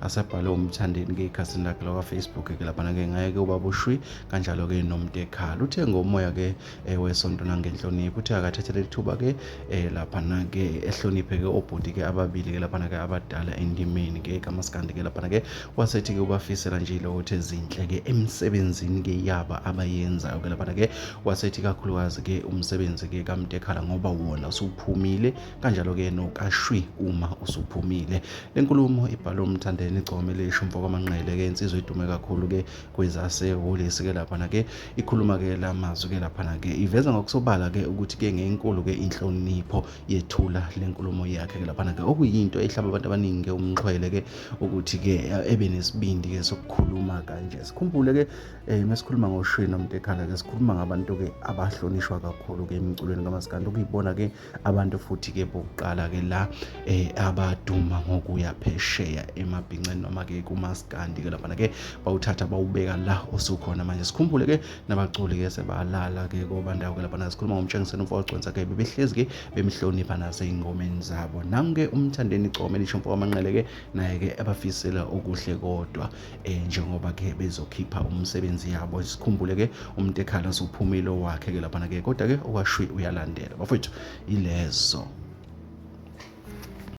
asebhale umthandeni ke ekhasini lakhe lakwafacebook ke laphana ke ngaye ke ubaba ushwi kanjalo ke nomntekhala uthe ngomoya ke eh, wesonto nangenhlonipho uthe akathathele ithuba ke eh, laphana ke ehloniphe ke obhuti ke ababili ke laphana ke abadala endimeni ke kamaskandi ke laphana ke wasethi ke ubafisela nje lokho uthe zinhle ke emsebenzini ke yaba abayenzayo ke laphana ke wasethi kakhulukazi ke umsebenzi ke kamntekhala ngoba wona usuphumile kanjalo-ke nokashwi uma usuphumile le nkulumo ibhalwe umthandeni igcome elisho umfokamanqele-ke insizwa idume kakhulu-ke kwezasehholisi-ke laphana-ke ikhuluma-ke la mazwi-ke laphana-ke iveza ngokusobala-ke ukuthi-ke ngenkulu-ke inhlonipho yethula le nkulumo yakhe-ke laphana-ke okuyinto ehlaba abantu abaningi-ke umxhwele-ke ukuthi-ke eh, ebe nesibindi-ke sokukhuluma kanje sikhumbule-ke um eh, mesikhuluma ngoshwi nomntekhala-ke sikhuluma ngabantu-ke abahlonishwa kakhulu-ke emculweni kamasikandi okuyibona-ke abantu futhi ke bokuqala ke la eh abaduma ngokuya phesheya emabhinceni noma ke kumaskandi ke laphana ke bawuthatha bawubeka la osukhona manje sikhumbule ke nabaculi ke sebalala ke kobandawo ke laphana sikhuluma ngomtshengiseni umfowogconsa ke bebehlezi ke bemhlonipha nasey'ngomeni zabo nangu ke umthandeni igcome lisho mfowamanqele ke naye ke abafisela okuhle kodwa eh njengoba ke bezokhipha umsebenzi yabo sikhumbule ke umuntu ekhala sophumile wakhe ke lapha ke kodwa ke owashwi uyalandela bafethu ilezo